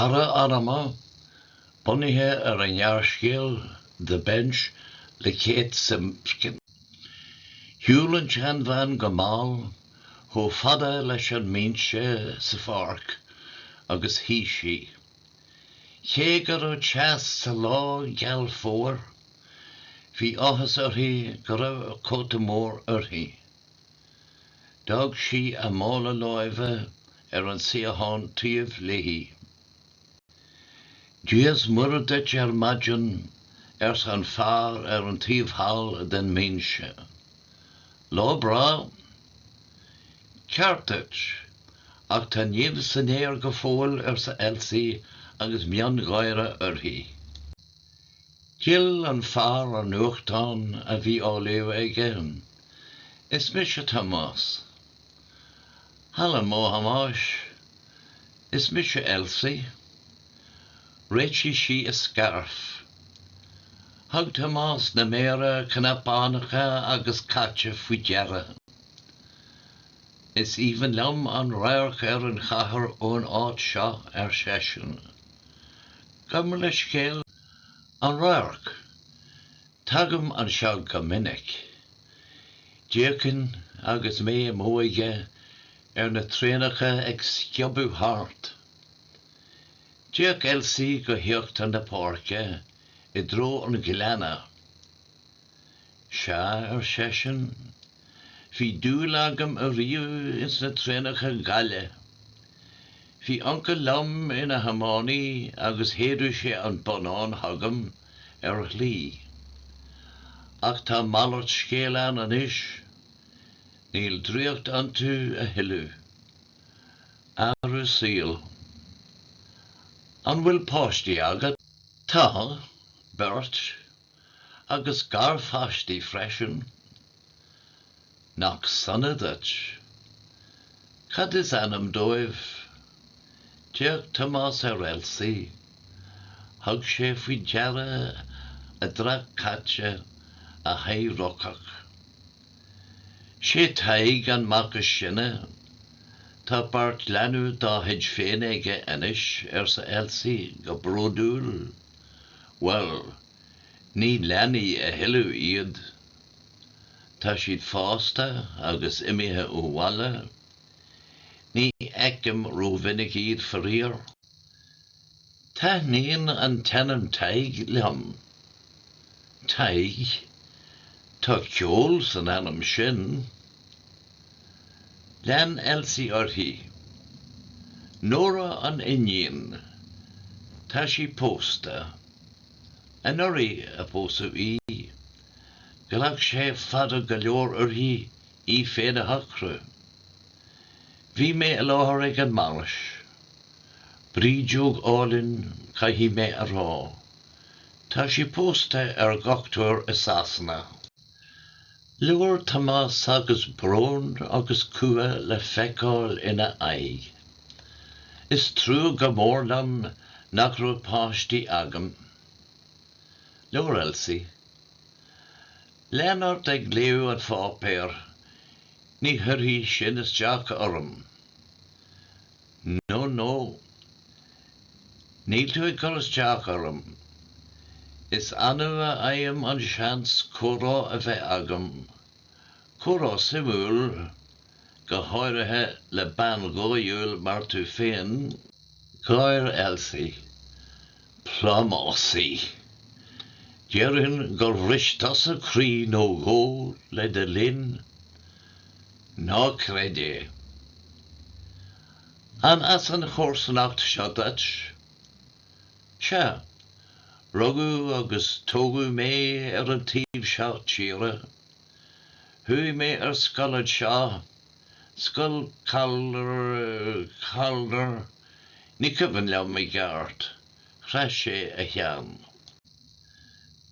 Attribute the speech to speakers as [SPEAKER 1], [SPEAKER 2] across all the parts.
[SPEAKER 1] Cara anama, bunaithe ar an ngearrscéal The Bench le Kate Simpkin. Shiúil an tseanbhean go mall chomh fada leis an mbinse sa pháirc agus shuigh sí. Cé go raibh teas sa lá geal fómhair, bhí áthas uirthi go raibh cóta mór uirthi. D'fhág sí a mála láimhe ar an suíochán taobh léi. Dia's Muire duit ar maidin, arsa an fear ar an taobh thall den mbinse. Lá breá? Ceart duit. Ach tá nimh san aer go fóill, arsa Elsie agus miongháire uirthi. D'fhill an fear an nuachtán a bhí á léamh aige. Is mise Tomás. Haló a Thomáis. Is mise Elsie. Réitigh sí a scairf. Thug Tomás na méara cnapánacha caite faoi deara. Is aoibhinn liom an radharc ar an chathair ón áit seo, ar seisean. Gurb amhlaidh scéal an radhairc. Tagaim anseo go minic. D'fhéachainn agus mé i m'óige ar na traenacha ag sciobadh thart. D'fhéach Elsie go híochtar na páirce i dtreo an ghleanna. Sea, ar seisean, bhí dúil agam ariamh ins na traenacha gaile. Bhí uncail liom ina thiománaí agus shéideadh sé an bonnán chugam ar a shlí. Ach tá malairt scéil ann anois. Níl draíocht iontu a thuilleadh. Athrú saoil. An bhfuil páistí agat? Tá, beirt. agus garpháistí freisin. Nach sona duit. Cad is ainm dóibh? D'fhéach Tomás ar Elsie. Thug sé faoi deara a dreach caite, a haghaidh rocach. 'Sé Tadhg an mac is sine. Tá beirt leanbh dá chuid féin aige anois, arsa Elsie go bródúil. Bhuel, ní leanaí a thuilleadh iad. Tá siad fásta agus imithe ó bhaile. Ní fheicim rómhinic iad, faraor. Taitníonn an t-ainm Tadhg liom. Tadhg, tá ceol san ainm sin. Lean Elsie uirthi. Nóra an iníon. Tá sí pósta. Anuraidh a pósadh í. Ghlac sé fada go leor uirthi í féin a shocradh. Bhí mé i láthair ag an mbainis. Brídeog álainn, caithfidh mé a rá. Tá sí pósta ar dhochtúir i Sasana. Labhair Tomás agus brón agus cumha le feiceáil ina aghaidh. Is trua go mór liom nach raibh páistí agam. Labhair Elsie. Lean ort ag léamh an pháipéir, ní chuirfidh sin isteach orm. No, no. Níl tú ag cur isteach orm. Is annamh a fhaighim an seans comhrá a bheith agam, comhrá suimiúil, go háirithe le bean dhóighiúil mar tú féin. Gháir Elsie. Plámásaí. Déarfainn gur bhris tusa croí nó dhó le do linn. Ná creid é. An as an chomharsanacht seo duit? Sea. Rugadh agus tógadh mé ar an taobh seo tíre. Chuaigh mé ar scoil anseo, Scoil Calder, Calder, ní cuimhin liom i gceart. Chroith sé a cheann.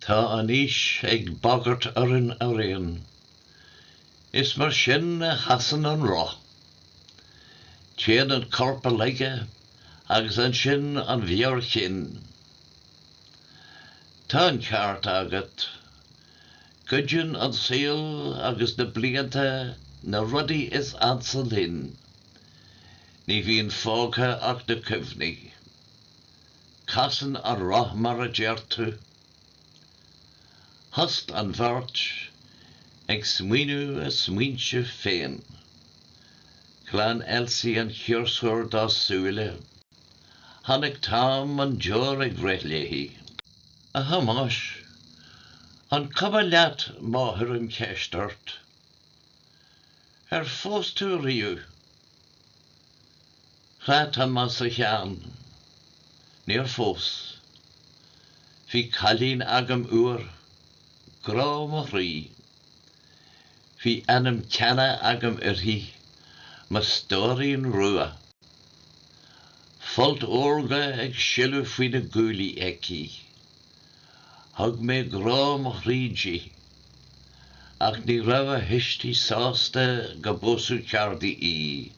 [SPEAKER 1] Tá an aois ag bagairt orainn araon. Is mar sin a chasann an roth. Téann an corp i laige agus ansin an mheabhair chinn. Tá an ceart agat. Goideann an saol agus na blianta na rudaí is ansa linn. Ní bhíonn fágtha ach na cuimhní. Casann an roth mar a deir tú. Thost an bheirt ag smaoineamh a smaointe féin. Ghlan Elsie an ciarsúr dá súile. Chonaic Tom an deoir ag rith léi. A Thomáis, an cuma leat má chuirim ceist ort? Ar phós tú riamh? Chroith Tomás a cheann. Níor phós. Bhí cailín agam uair, grá mo chroí. Bhí ainm ceana agam uirthi, mo stóirín rua. Folt órga ag sileadh faoi na guaillí aici. Thug mé grá mo chroí di. Ach ní raibh a thuistí sásta go bpósfadh ceardaí í.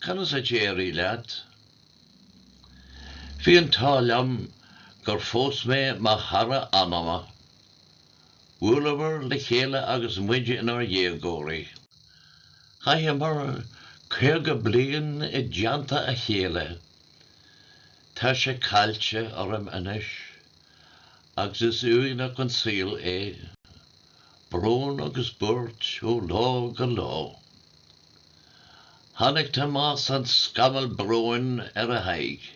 [SPEAKER 1] Conas a d'éirigh leat? Bhí an t-ádh liom gur phós mé mo chara anama. Bhuaileamar le chéile agus muid inár ndéagóirí. Chaitheamar caoga bliain i dteannta a chéile. Tá sé caillte orm anois agus is uaigneach an saol é. Brón agus buairt ó lá go lá. Chonaic Tomás an scamall bróin ar a haghaidh.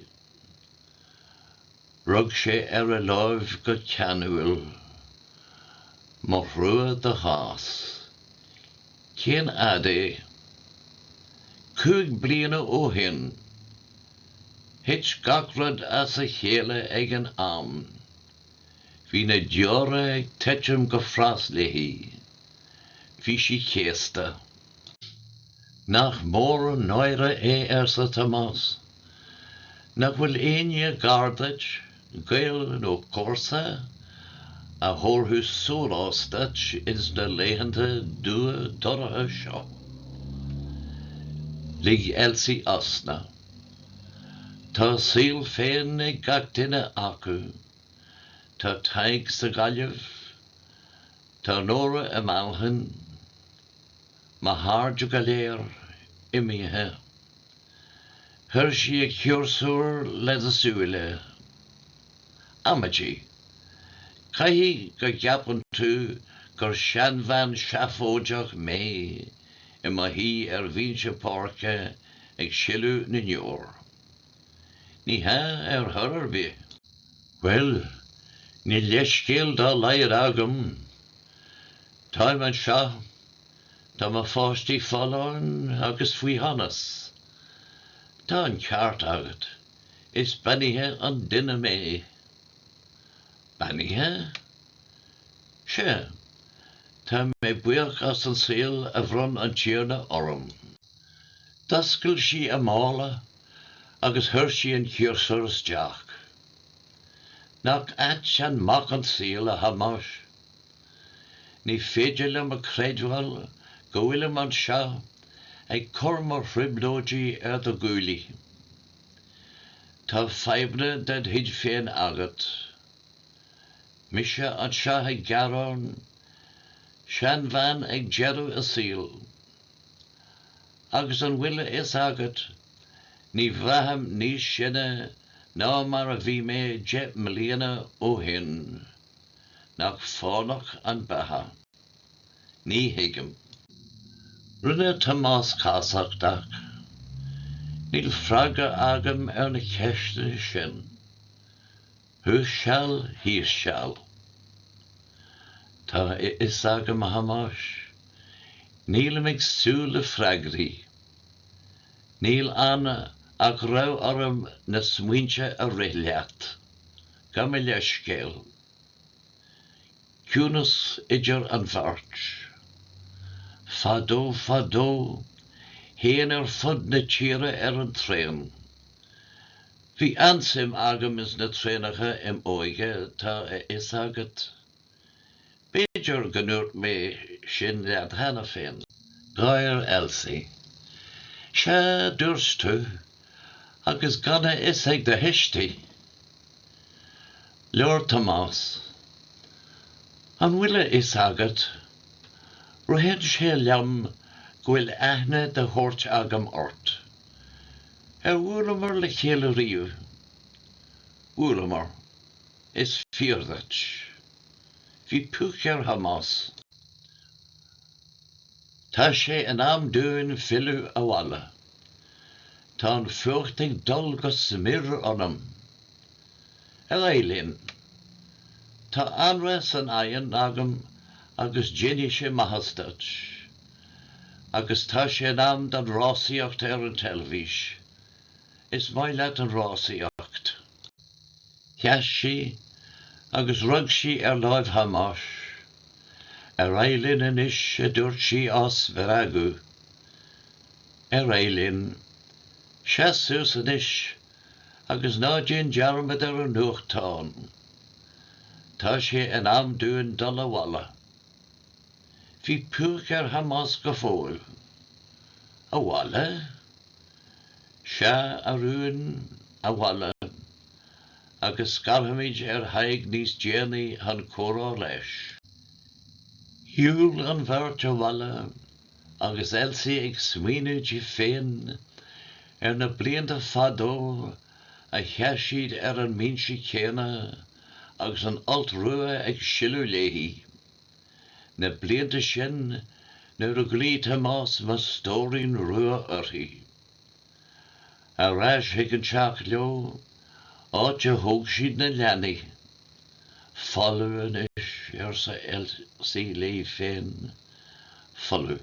[SPEAKER 1] Rug sé ar a lámh go ceanúil. Mo thrua do chás. Cén fhad é? Cúig bliana ó shin. Thit gach rud as a chéile ag an am. Bhí na deora ag titim go fras léi. Bhí sí céasta. Nach mór an náire é arsa Tomás. Nach bhfuil éinne gar duit, gaol nó comharsa, a thabharfadh sólás duit ins na laethanta dorcha seo? Lig Elsie osna. Tá a saol féin ag gach duine acu. Tá Tadhg sa Ghaillimh. Tá Nóra i Manchain. Mo chairde go léir imithe. Chuir sí a ciarsúr lena súile. Amaidí. Caithfidh go gceapann tú gur seanbhean seafóideach mé i mo shuí ar bhinse páirce ag sileadh na ndeor. Ní hea ar chor ar bith. Bhuel, níl leithscéal dá laghad agam. Táim anseo, tá mo pháistí folláin agus faoi shonas. Tá an ceart agat, is beannaithe an duine mé. Beannaithe? Sea, tá mé buíoch as an saol a bhronn an Tiarna orm. D'oscail sí a mála agus chuir sí an ciarsúr isteach. Nach ait an mac an saol, a Thomáis? Ní féidir liom a chreidiúint go bhfuilim anseo ag cur mo thrioblóidí ar do ghuaillí. Tá fadhbanna ded chuid féin agat. Mise anseo ag gearán? Seanbhean ag deireadh a saoil? Agus an bhfuil a fhios agat, ní bhraithim níos sine ná mar a bhí mé deich mbliana ó shin. Nach fánach an bheatha? Ní thuigim. Rinne Tomás casachtach. Níl freagra agam ar na ceisteanna sin. Thuas seal, thíos seal. Tá a fhios agam a Thomáis. Nílim ag súil le freagraí. Níl ann ach go raibh orm na smaointe a rith leat. Gabh mo leithscéal. Ciúnas idir an bheirt. Fadó fadó, théinn ar fud na tíre ar an traein. Bhí an-suim agam ins na traenacha im' óige tá a fhios agat. B'fhéidir go ndúirt mé sin leat cheana féin. Gháir Elsie. Sea, dúirt tú, agus gan a fhios ag do thuistí! Labhair Tomás. An bhfuil a fhios agat, ritheann sé liom go bhfuil aithne de shórt agam ort. Ar bhuaileamar le chéile riamh? Bhuaileamar. Is fíor duit. Bhí púic ar Thomás. Tá sé in am dúinn filleadh abhaile. Tá an fuacht ag dul go smior ionam. Ar aghaidh linn. Tá anraith san oigheann agam agus déanfaidh sé maitheas duit. Agus tá sé in am don rásaíocht ar an teilifís. Is maith leat an rásaíocht. Sheas sí agus rug sí ar láimh Thomáis. Ar aghaidh linn anois, a dúirt sí á spreagadh. Ar aghaidh linn. Seas suas anois, Agus ná déan dearmad ar an nuachtán. Tá sé in am dúinn dul abhaile. Bhí púic ar Thomás go fóill. Abhaile? Sea, a rúin, abhaile. Agus scairtfimid ar Thadhg níos déanaí chun comhrá leis. Shiúil an bheirt abhaile. Agus Elsie ag smaoineamh di féin ar na blianta fadó a sheas siad ar an mbinse céanna agus an folt rua ag sileadh léi, na blianta sin nuair a ghlaoigh Tomás mo stóirín rua uirthi. Ar ais chuig an teach leo, áit a thóg siad na leanaí. Folamh anois, arsa Elsie léi féin. Folamh.